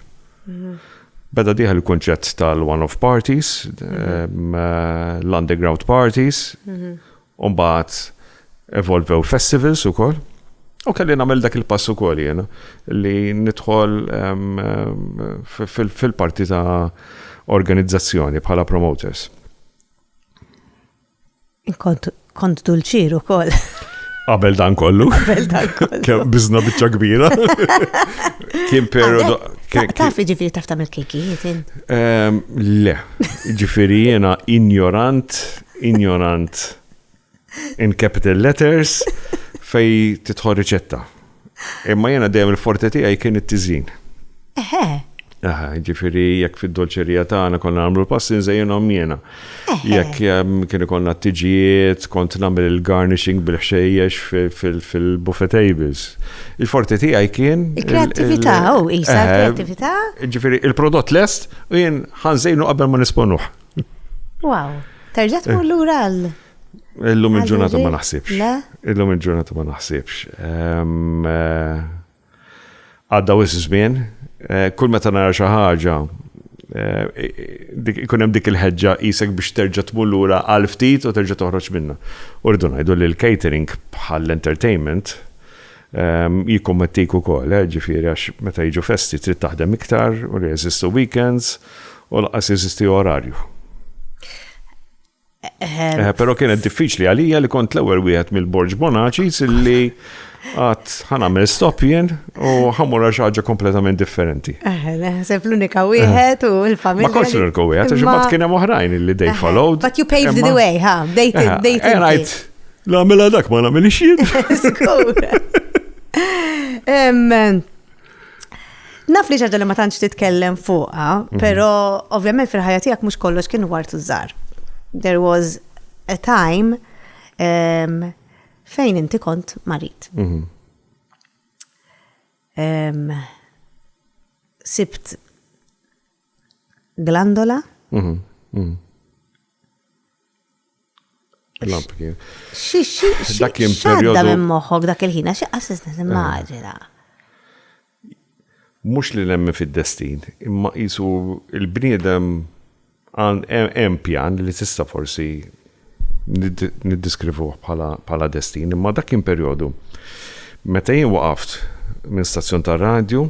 Beda diħa l kunċett tal-one-off parties, ehm, l-underground parties, U mbagħad evolvew l-festivals ukoll. U kelli nagħmel dak il-pass ukoll jien li nidħol fil-parti ta' organizzazzjoni bħala promoters. Kont dulċir ukoll. Qabel dan kollu. Qabel dan kollu. Bizna biċċa kbira. Kien periodu. Taf ġifiri taf tamil kekijiet. Le, ġifiri jena ignorant Injorant in capital letters fej titħol riċetta. Imma jena dejjem il-forte tiegħi kien it-tiżjin. Eħe. Aha, ġifiri, jekk fid-dolċerija tagħna konna nagħmlu l-passi nżejjenhom jiena. Jekk ehm, kien ikollna t-tiġijiet, kont nagħmel il-garnishing bil-ħxejjex fil-buffet tables. Il-forti tiegħi kien. Il-kreativita, u oh, isa kreativita. Ġifiri, il-prodott lest u jien ħanżejnu qabel ma nisponuh. Wow, terġa' tmur eh. lura għal. Illum il-ġurnata ma naħsibx. Illum il-ġurnata ma naħsibx. Ehm, eh, għadda wis żmien, eh, kull meta nara xi ħaġa ikun hemm dik il-ħeġġa isek biex terġa' tmur lura għal ftit u terġa' toħroġ minna. Urdu ngħidu li l-catering bħall-entertainment Jikkommettik ukoll, ġifieri għax meta jiġu festi trid taħdem iktar u la jeżistu weekends u lanqas jeżisti orarju. Però kienet diffiċli għalija li kont l-ewwel wieħed mill-Borġ Bonaċis illi għat ħanamel stop jien u ħamura xaġa kompletament differenti. Sepp l-unika wieħed u l-familja. Ma kontx l-unika wieħed, għax bat kienem oħrajn li they followed. But you paved the way, ha? They did. Namela dak ma namelix jien. Naf li ġaġa li ma tantx titkellem fuqa, mhm. pero ovvjament fil-ħajja tiegħek mhux kollox kien wart użar. There was a time um, fejn inti kont marit. Mhm. Um, sibt glandola. Mhm, Lamp kien. Dak kien perjodu. minn moħħok dak il-ħina, xi qassis nimmaġina. Eh. Mhux li nemmen fid-destin, imma qisu il-bniedem hemm pjan li tista' forsi niddiskrivuh bħala destin, imma dak kien perjodu. Meta jien waqaft minn stazzjon tar-radju,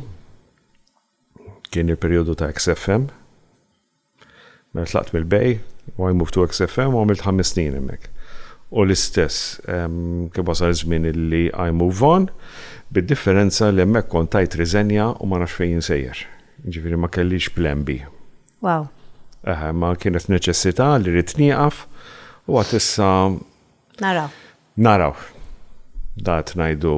kien il-perjodu ta' XFM, Meta tlaqt mill-BEI, u I moved to XFM u għamilt ħames snin hemmhekk. U l-istess, kien wasal iż-żmien li I move on, bid-differenza li hemmhekk kont tajt riżenja u ma nafx fejn jien sejjer. Jiġifieri ma kellix plan B. Wow. Eħe, imma kienet neċessità li rrid nieqaf u għad issa. Naraw. Naraw. Daqt ngħidu.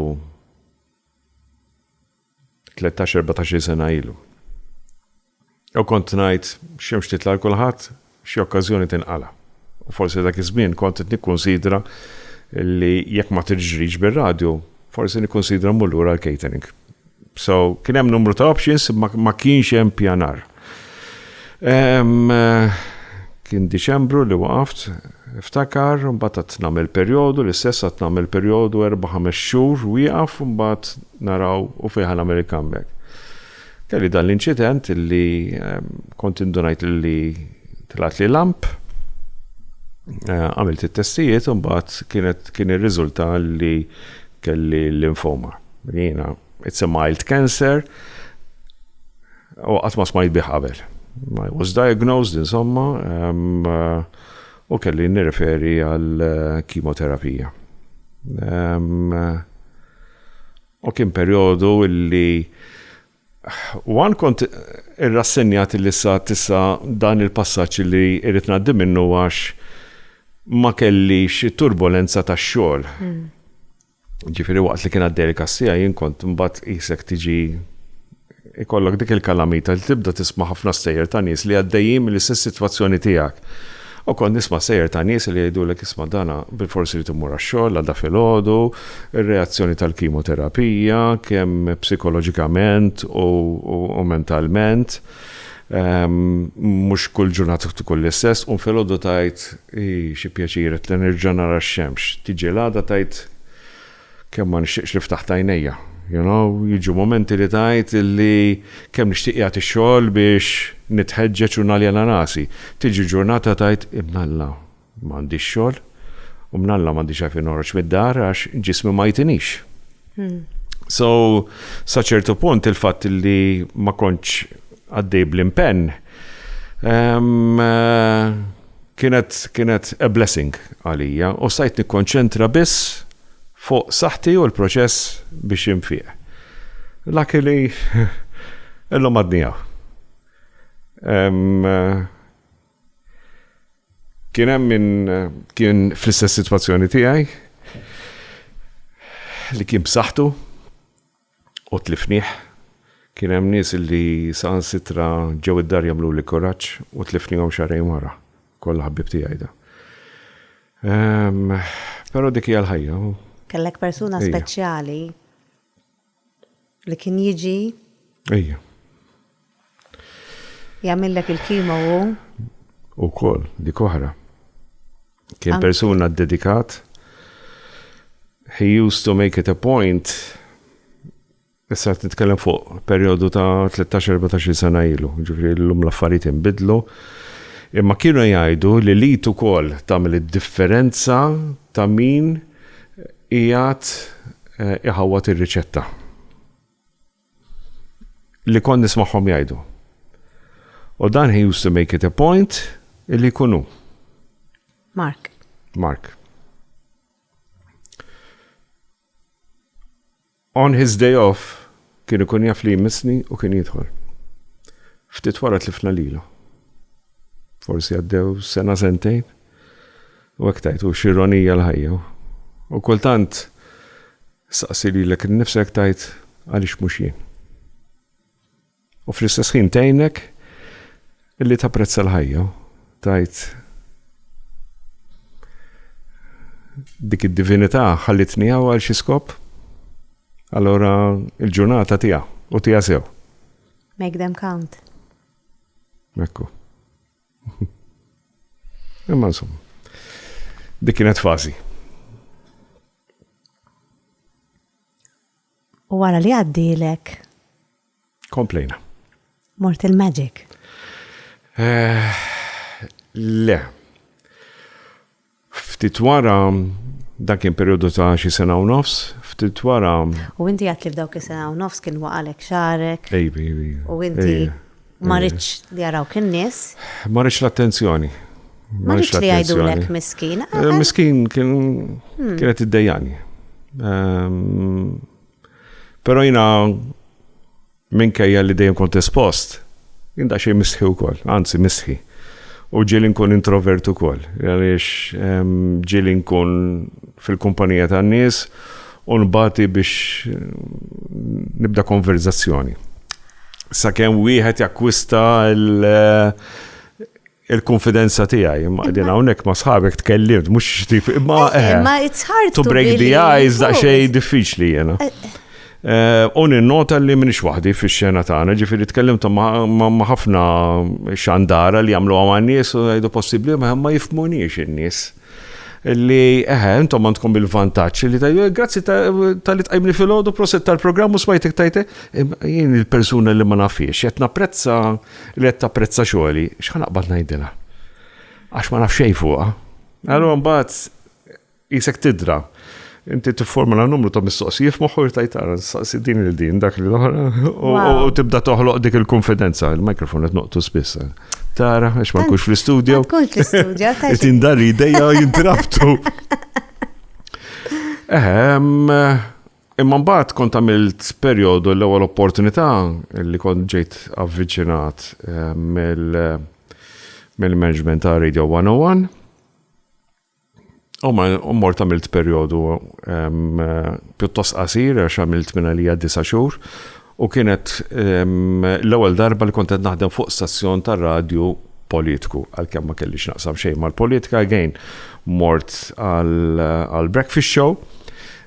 13-14 sena ilu. U kont ngħid x'xemx titla' għal kulħadd, xi okkażjoni tinqala'. U forsi dak iż-żmien kont qed nikkunsidra li jekk ma tiġrix bir-radju, forsi nikkunsidra mmur lura għall-catering. So, kien hemm numru ta' options imma ma kienx hemm pjanar. Kien Diċembru li waqaft, iftakar, mbagħad għad nagħmel perjodu, l-istess għad nagħmel perjodu erba' ħames xhur wieqaf u mbagħad naraw u fih ħa nagħmel il-comeback. Kelli dan l-inċident illi kont indunajt li tlgħatli lamp, għamilt it-testijiet u mbagħad kienet kien irriżulta li kelli l-linfoma. Jiena it's a mild cancer, U qatt ma smajt bih qabel. I was diagnosed, insomma, u kelli nirreferi għal kimoterapija. U kien perjodu li one kont irrassenjat li issa tissa dan il-passaġġ li irrid ngħaddi minnu għax ma kellix turbolenza tax-xogħol. Hmm. Ġifieri waqt li kien għaddej il-kassija jien kont imbagħad qisek tiġi ikollok dik il-kalamita li tibda tisma' ħafna stejjer ta' nies li għaddejjin mill-istess sitwazzjoni tiegħek. U kont nisma' stejjer ta' nies li jgħidulek isma' dana bilfors irid imur għax-xogħol l-għada filgħodu, ir-reazzjoni tal-kimoterapija, kemm psikoloġikament u mentalment. Mhux kull ġurnata tkun l-istess, qum filgħodu tgħid, 'Hi, xi pjaċir, qed nerġa' nara x-xemx. Tiġi l-għada tgħid, 'Kemm ma nixtieqx li ftaħt għajnejja. You know? Jiġu mumenti li tgħid li kemm nixtieq jgħad ix-xogħol biex nitħeġġeġ u naljena rasi. Tiġi ġurnata tgħid, 'Imnalla! Ma għandix xogħol u mnalla ma għandix għalfejn noħroġ mid-dar għax ġismi ma jtinix. Hmm. So, sa ċertu punt il-fatt li ma kontx għaddej bl-impenn ehm, kienet kienet a blessing għalija u sajt nikkonċentra biss fuq saħti u l-proċess biex imfieq. Laki li illum għadnijaw. Kien hemm min kien fl-istess sitwazzjoni tiegħi li kien b'saħħtu u tlifnih. Kien hemm nies li saħansitra ġew id-dar jagħmluli kuraġġ u tlifnihom xahrejn wara. Kollha ħbieb tiegħi dawn. Ehm, però dik hija l-ħajja. Kellek persuna speċjali. Li kien jiġi. Ejja. Jagħmillek il-kimo u. U kol, dik oħra. Kien persuna dedikat. He used to make it a point Issa qed nitkellem fuq perjodu ta' 13-14 sena ilu, ġifri l-lum l-affarijiet inbidlu. Imma kienu jgħidu li li ukoll tagħmel id-differenza ta' min Qiegħed iħawwad ir-riċetta li kont nismagħhom jgħidu. U dan he used to make it a point illi jkun hu. Mark. Mark. On his day off kien ikun jaf li jmissni u kien jidħol. Ftit wara tlifna lilu. Forsi għaddew sena sentejn u hekk tajt u x'ironija l-ħajja. U kultant saqsi lilek innifsek tajt għaliex mhux jien. U fl-istess ħin tgħinek illi tapprezza l-ħajja u tgħid, Dik id-divinità ħallitni hawn għal xi skop? Allura l-ġurnata tiegħha u tiegħha sew. Make them count. Ekku. Imma insomma. Dik kienet fażi. U wara li għaddilek. Komplejna. Mort il-Magic. Eh, le. Ftit wara dan kien periodu ta' xi sena u nofs, ftit wara. U inti għat li f'dawk is-sena u nofs kien waqalek xarek. Ejbi, ejbi. U inti Ma rridx li jarawk in-nies. Ma rridx l-attenzjoni. Ma rridx li jgħidulek miskin. Eh, eh. Miskin kien hmm. kienet iddejjani. Ehm, però jina minkejja li dejjem kont espost, jien da xejn misħi wkoll, anzi misħi. U ġieli nkun introvert ukoll, għaliex ehm, ġieli nkun fil-kumpanija tan-nies u nbati biex ehm, nibda konverzazzjoni. sakemm wieħed jakkwista il-konfidenza tiegħi. Imma qegħdin hawnhekk ma' sħabek tkellimt, mhux xtip, imma eh, imma eh, it's hard to break the eyes daqsxejn diffiċli jiena. Eh, u ninnota li minix waħdi fix-xena tagħna, ġifieri tkellimt ma' ħafna xandara li jagħmlu għaman nies u jgħidu possibbli ma jifmunix in-nies. li eħe, intom għandkom il-vantaġġ li tajju, grazzi tal-li tqajmni fil-ħodu, proset tal-programm u smajtek tajte, jien il-persuna li ma nafiex, qed napprezza li qed tapprezza xogħli, x'ħan aqbad ngħidilha. Għax ma nafx xejn fuqha. Allura mbagħad isek tidra. Inti tifformula numru ta' mistoqsijiet f'moħħu jtajt ara nistaqsi din il din dak li l-oħra u tibda toħloq dik il-konfidenza, il-mikrofon qed noqtu spiss. Tara, għax ma nkunx fl-istudju. Nkun fl-istudju. Tindar ideja jintrabtu. Ehm, imma mbagħad kont għamilt perjodu l-ewwel opportunità li kont ġejt avviċinat ehm, mill-management ta' Radio 101 U ma mort għamilt perjodu pjuttost qasir għax għamilt minn għalija disa' xhur u kienet l-ewwel darba li kont qed naħdem fuq stazzjon tar-radju politiku għalkemm ma kellix naqsam xejn mal-politika again mort għal breakfast show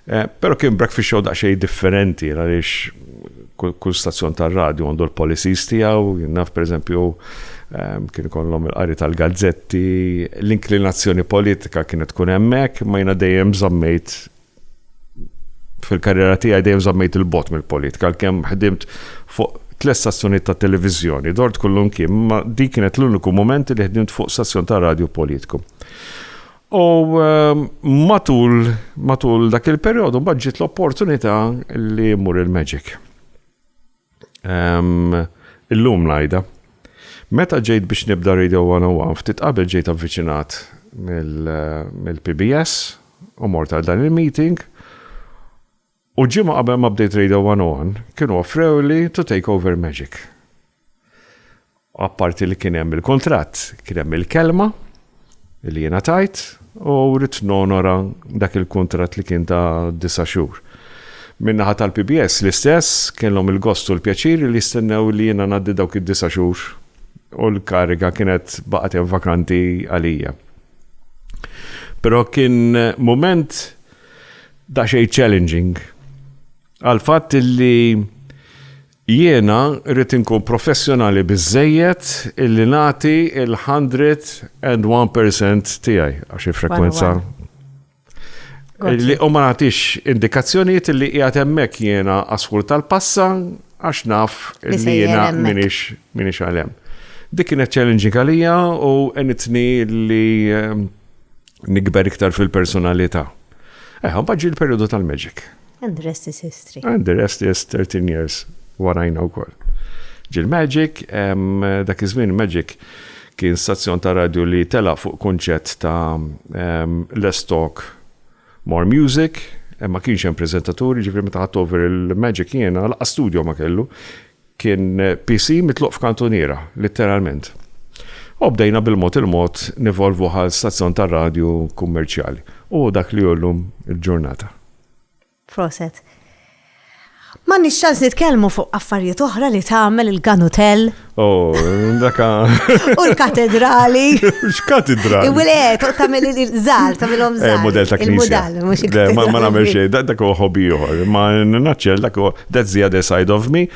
Eh, pero kien breakfast show daqxej differenti, għalix kull stazzjon tal-radio għandu l-policies tijaw, jinnaf per eżempju ehm, kien kollom il-qari tal-gazzetti, l-inklinazzjoni politika kienet tkun emmek, ma jina dejjem zammejt fil-karriera tijaj dejjem zammejt il-bot mill-politika, l-kem ħdimt fuq tles stazzjoni ta' televizjoni, dort kullum kien, ma di kienet l-uniku moment li ħdimt fuq stazzjon ta' radio politiku. U matul, matul dak il-perjodu mbagħad ġiet l-opportunità li mmur il-Magic. Illum ngħidha. Meta ġejt biex nibda Radio 101, ftit qabel ġejt avviċinat mill-PBS u mort għal dan il-meeting U ġimgħa qabel ma bdejt Radio One On, kienu offrewli to take over Magic. Apparti li kien hemm il-kuntratt, kien hemm il-kelma li jiena tajt u rrid nonora dak il-kuntratt li kien ta' disa' xhur. Minnaħa tal-PBS l-istess kellhom il-gost u l-pjaċir li jistennew li jiena ngħaddi dawk id-disa' xhur u l-kariga kienet baqgħet vakanti għalija. Però kien moment Daqsxejn challenging għall-fatt illi jiena rrid inkun professjonali biżżejjed illi nagħti l-hundred and one percent tiegħi għax il-frekwenza. U ma nagħtix indikazzjonijiet illi qiegħed hemmhekk jiena askur tal-passa għax naf illi jiena minix għalem. Dik kienet challenging għalija u enitni li ehm, Nikber iktar fil-personalità. Eħ, mbagħad ġie l-perjodu tal-magic. And the rest is history. And the rest is 13 years warajna wkoll. Ġil magic, dak iż-żmien magic kien stazzjon ta' radju li tela fuq kunċett ta' less talk, more music, ma kienx hemm preżentaturi, ġifri meta ħadd over il-magic jiena, laqqa studio ma kellu, Kien PC mitluq f'kantuniera, litteralment. U bdejna bil-mod il-mod nevolvu ghal stazzjon tar-radju kummerċjali u hu dak li hu llum il-ġurnata. Proset. M'għandniex ċans nitkellmu fuq affarijiet oħra li tagħmel il-Gun Hotel. Oh, dak U l-katedrali. X'katedrali? Il-wilet, tagħmel il-żgħar, tagħmilhom eh, żgħar. Mudell ta' knisja. Il-mudell, mhux il-katedrali. Ma nagħmel xejn, dak huwa ħobi ieħor. Ma naċċel dak huwa That's the other side of me.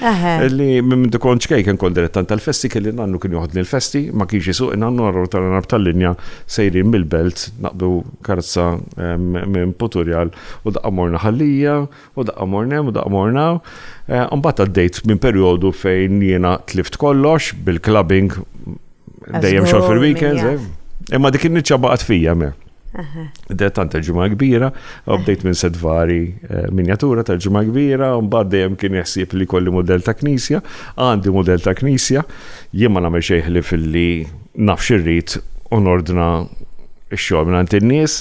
Li minn dikon ċkej kien kol direttan tal-festi kelli nannu kien joħodni l-festi, ma kienx jisuq nannu għarru tal-nab tal-linja sejrin mill-belt naqbdu karza minn Puturjal u daqqa morna ħallija u daqqa mornem u daqqa morna. Umbat eh, għaddejt minn periodu fejn jiena tlift kollox bil-clubbing dejjem xol fil-weekends. Eh. Imma dik in-niċċa baqgħet fija me. Bdejt tant il-ġimgħa kbira, bdejt minn sedvari eh, minjatura tal-ġimgħa kbira, mbagħad dejjem kien jaħsib li kolli model ta' knisja, għandi model ta' knisja, jien ma nagħmel xejn ħlif li naf xirrid u nordna xogħol minn in-nies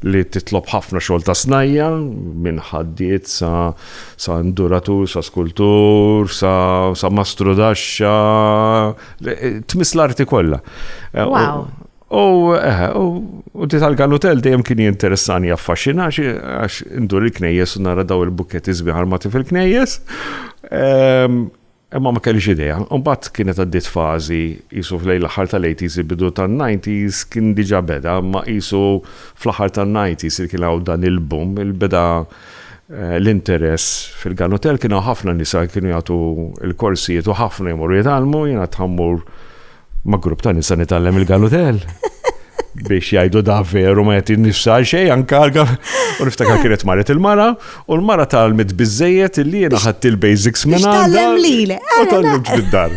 li titlob ħafna xogħol ta' snajja minn ħaddiet sa sa induratur, sa skultur, sa, sa mastru daxxa, eh, tmiss l-arti kollha. Eh, wow. U, eħe, u di tal-ganutel dejjem kien jinteressani jaffaxina għax indur il-knejjes u nara daw il-bukketti sbieħ armati fil-knejjes. Ehm, imma ma kellix idea. Mbagħad kienet għaddiet fażi qisu fl aħħar tal-80s bidu tan-90s kien diġà beda, ma qisu fl-aħħar tan-90s li kien hawn dan il-boom, il-beda eh, l-interess fil-ganutel kienu ħafna nisa kienu jagħtu l-korsijiet u ħafna jmorru jitgħallmu, jiena tħammur Ma' grupp ta' nisa nitgħallem il-galutel. Biex jgħidu da veru ma jgħati nifsa għal xejn anka u niftakar kienet maret il-mara u l-mara tal-mit bizzejiet li jena ħadd il-basics minn għandha. U tal-limx bid-dar.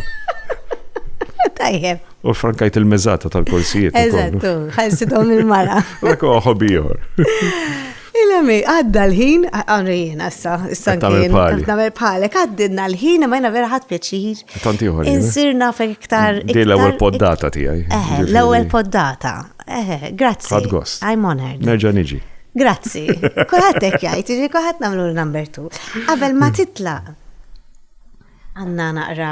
Tajjeb. U frankajt il-mezzata tal-korsijiet. Eżattu, ħajsitom il-mara. Lekku ħobijor. Il-għami, għadda l-ħin, għamri jena issa, issa nkien, namel bħalek, għaddinna l-ħin, ma jena vera ħat pjaċir. Tanti uħor. Insirna fek iktar. Di l-ewel poddata tijaj. Eh, l-ewel poddata. Eh, grazzi. Għad gost. I'm honored. Nerġa niġi. Grazzi. Kulħat ek jajt, ġi kulħat namlu l-number two. Għabel ma titla. Għanna naqra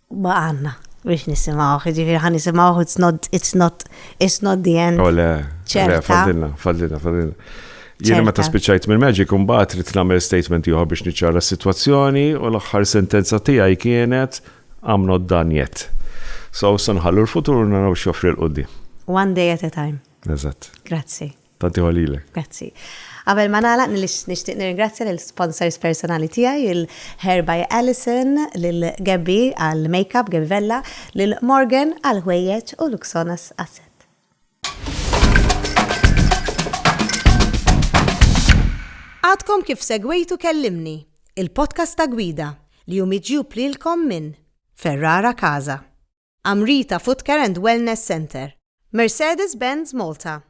Baqgħalna biex nisimgħuh, jiġifieri ħa nisimgħuh it's not it's not it's not the end. Oh, le, le, fadilna, fadilna, fadilna. Jiena meta spiċċajt minn Magic imbagħad trid nagħmel statement ieħor biex niċċara s-sitwazzjoni u l-aħħar sentenza tiegħi kienet I'm not done yet. So sanħallu l-futur naraw x'joffri l-qudiem. One day at a time. Eżatt. Grazzi. Tanti ħolilek. Grazzi. Qabel ma nagħlaq nixtieq nirringrazzja lil sponsors personali tiegħi, il-Hair by Alison, lil Gabby għall-makeup, Gabby Vella, lil Morgan għall-ħwejjeġ u Luxonas għas-set. Għadkom kif segwejtu Kellimni, il-podcast ta' gwida li hu miġjub lilkom minn Ferrara Casa. Amrita Footcare and Wellness Centre. Mercedes-Benz Malta.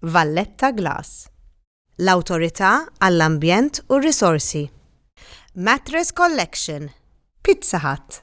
Valletta Glass. L-Awtorità għall-Ambjent u r-Risorsi. Mattress Collection. Pizza Hut.